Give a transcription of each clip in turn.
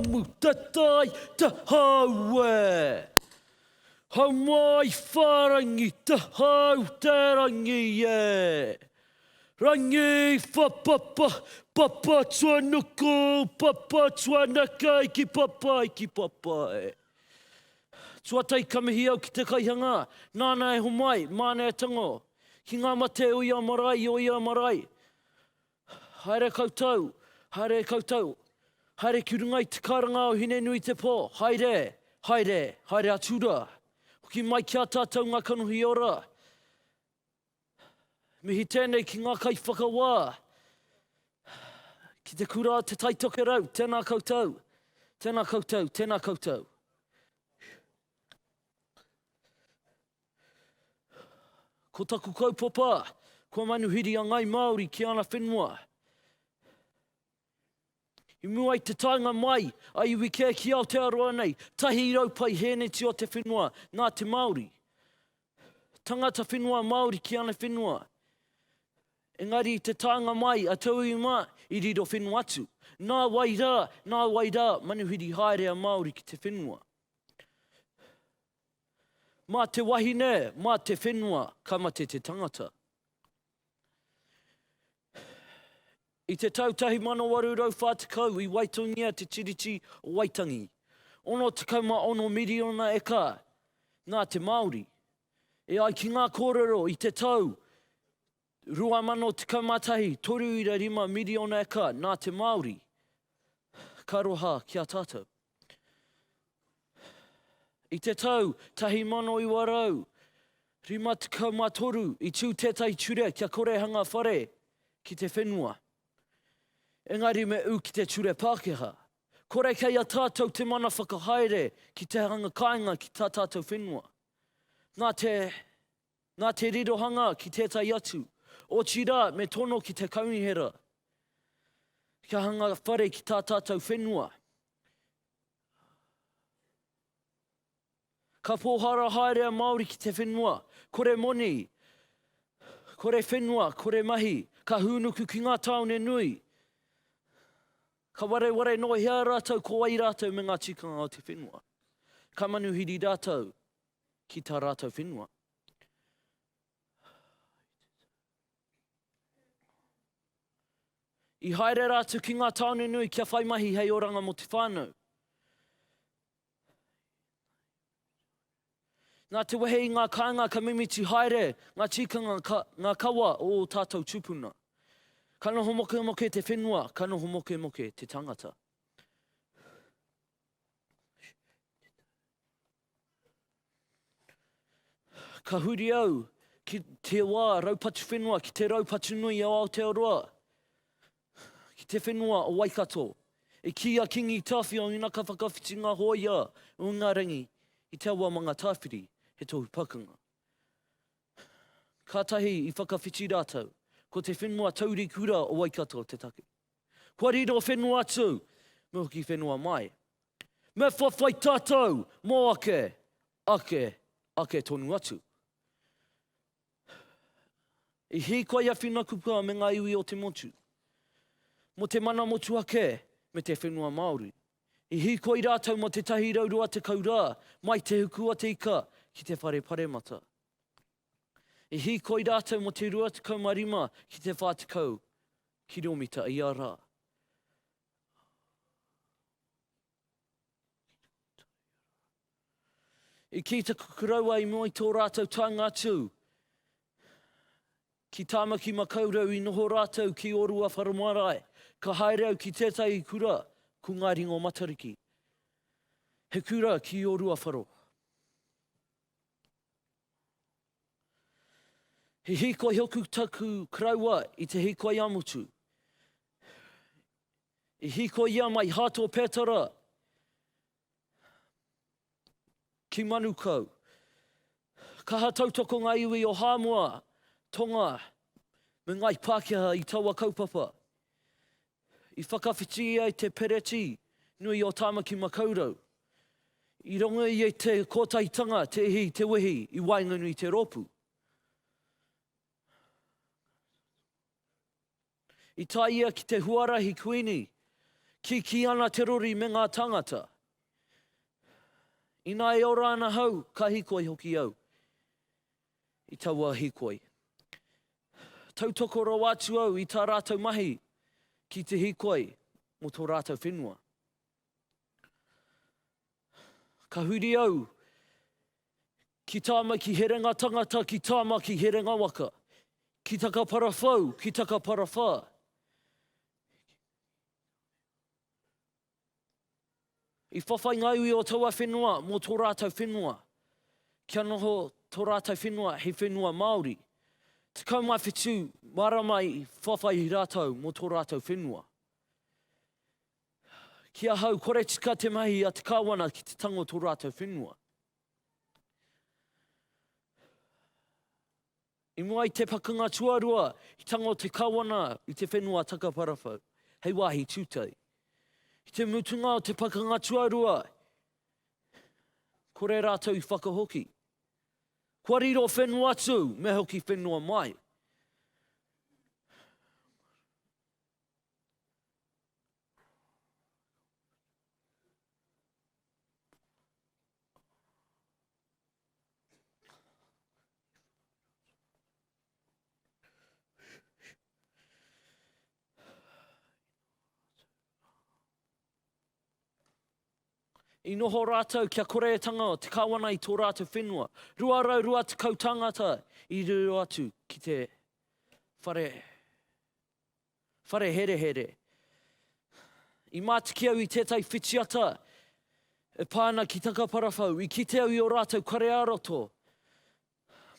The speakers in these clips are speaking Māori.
Amu tatai ta haue. Hau mai wharangi ta hau te rangi e. Rangi whapapa papa tuanuku papa tuanakei ki papai ki papai. Tuatai ka mihi au ki te kaihanga nana e homai, mana e tango ki nga mate o ia marae i o ia marae. Haere koutou, haere e koutou, haere ki runga i te karanga o Hine-nui-te-pō, haere, haere, haere atu rā. Hoki mai ki a tātou ngā kanohi ora. Mihi tēnei ki ngā kaiwhakawā, ki te kura Te Tai Tokerau, tēnā koutou, tēnā koutou, tēnā koutou. Ko taku kaupapa, kua manuhiri a Ngai Māori ki ana whenua. I mua i te taenga mai a iwi kē ki Aotearoa nei, tahi rau pai hēneti o te whenua nā te Māori. Tangata whenua Māori ki ana whenua. Engari i te taenga mai a tauiwi mā, i riro whenua atu. Nā wai rā, nā wai rā, manuhiri haere a Māori ki te whenua. Mā te wahine, mā te whenua ka mate te tangata. I te tau 1840 i waitongia te Tiriti o Waitangi, 66 miriona eka nā te Māori. E ai ki ngā kōrero i te tau 2011, 3.5 miriona eka nā te Māori. Ka roha ki a tātou. I te tau 1953 i tū tētahi ture kia korehanga whare ki te whenua. Engari me ū ki te ture Pākehā. Kore kei a tātou te mana whakahaere ki te hanga kāinga ki tā tātou whenua. Nā te Nā te rirohanga ki tētahi atu, otirā me tono ki te kaunihera kia hanga whare ki tā tātou whenua. Ka pōhara haere a Māori ki te whenua, kore moni, kore whenua, kore mahi, ka hūnuku ki ngā tāone nui. Ka wareware noa hea rātou ko wai rātou me ngā tikanga o te whenua. Ka manuhiri rātou. ki tā rātou whenua. I haere rātou ki ngā tāone nui kia whai mahi hei oranga mō te whānau. Nā te wehe i ngā kāinga ka mimiti haere ngā tīkanga ka, ngā kawa o o tātou tūpuna. Ka noho moke moke te whenua, ka noho moke moke te tangata. Ka huri au ki te wā raupatu whenua, ki te raupatu nui o Aotearoa, ki te whenua o Waikato. I kī a Kingi Tāwhiao ina ka whakawhiti ngā hōia o Ingarangi i te awa manga tāwhiri, he tohu pakanga. Kātahi i whakawhiti rātou, ko te whenua taurikura o Waikato te take. Kua riro whenua atu, me hoki whenua mai. Me whawhai tātou mō ake, ake, ake tonu atu. I hīkoi a Whina Kuka me ngā iwi o te motu. Mo te mana motuhake me te whenua Māori. I hīkoi rātou mo te tahi rau rua tekau rā, mai te huku a te ika ki te whare paremata. I hīkoi rātou mō te 25 ki te 40 kiromita ia rā. I kī te kukuraua i mua i tō rātou tānga atu, ki Tāmaki Makaurau i noho rātou ki Orua Wharamarae, ka haere au ki tētahi kura ko Ngāi Ringo Matariki. He kura ki Orua Wharo. He hīkoi hoku taku karaua i te hīkoi amutu. I hīkoi ia mai Hāto Pētara ki Manukau. Kaha tautoko ngā iwi o Hāmoa, Tonga, me Ngāi Pākehā i taua kaupapa. I whakawhiti ia i te Pereti nui o Tāmaki Makaurau. I rongo ia i te kotahitanga te ihi i te wehi i waenganui i te rōpū. I tae ia ki te huarahi kuini, kikī ana te rori me ngā tāngata. Ina e ora ana hau, ka hikoi hoki au. i taua hikoi. Tautoko rawa atu au i tā rātou mahi ki te hikoi mō tō rātou whenua. Ka huri au ki tāma ki herenga tangata, ki tāma ki herenga waka, ki takaparawhau, ki takaparawhā. I whawhai ngā iwi o taua whenua mō tō rātou whenua, kia noho tō rātou whenua hei whenua Māori. Tekau mā whitu marama i whawhai rātou mō tō rātou whenua. Ki ahau, kore tika te mahi a te kāwana ki te tango tō rātou whenua. I mua i te pakanga tuarua, i tango te Kawana i te whenua takaparawhau, hei wāhi tūtei. I te mutunga o te pakanga tuarua, kore rātou i whakahoki. Kua riro whenua atu, me hoki whenua mai. I noho rātou kia kore e tanga o te kawana i tō rātou whenua. 220 tāngata i riro atu ki te whare. Whare herehere. I mātiki au i tētahi whitiata e pā ana ki Takaparawhau. I kite au i ō rātou kare ā-roto.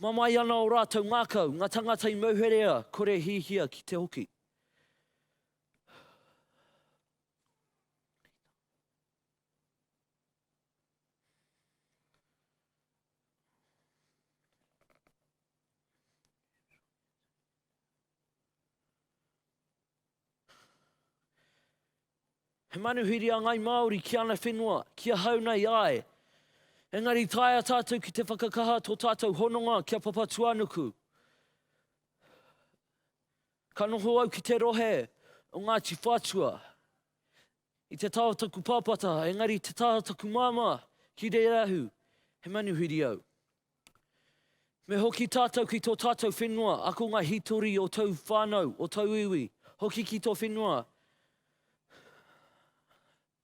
Mamae ana ō rātou ngākau, ngā tāngata i mauherea kore hihia ki te hoki. He manuhiri a Ngai Māori ki ana whenua, ki ahau nei, āe. Engari taea tātou ki te whakakaha tō tātou hononga ki a Papatuanuku. Ka noho au ki te rohe o Ngāti Whatua. I te tao taku pāpata, engari te taha taku māmā, ki reira ahu, he manuhiri au. Me hoki tātou ki tō tātou whenua, ako ngā hītori o tōu whānau, o tōu iwi, hoki ki tō whenua,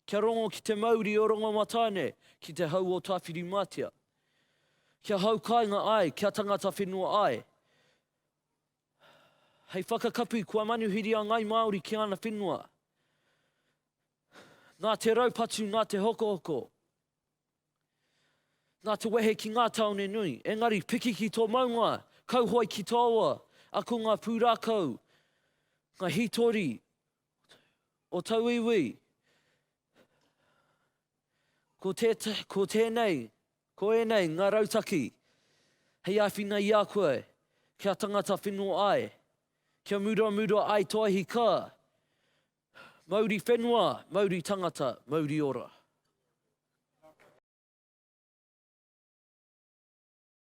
kia rongo ki te mauri o Rongomatāne, ki te hau o Tāwhirimātea. Kia hau kāinga ai, kia tangata whenua ai. Hei whakakapi, kua manuhiri a Ngai Māori ki ana whenua. Nā te raupatu, nā te hokohoko, nā te wehe ki ngā tāone nui. Engari, piki ki tō maunga, kauhoe ki tāua, ako ngā pūrākau, ngā hītori o tauiwi. Ko, te, ko tēnei Ko ēnei ngā rautaki hei āwhina i a koe kia tangata wheno ai, kia muramura ai to ahi ka Mauri whenua, Mauri tangata, Mauri ora.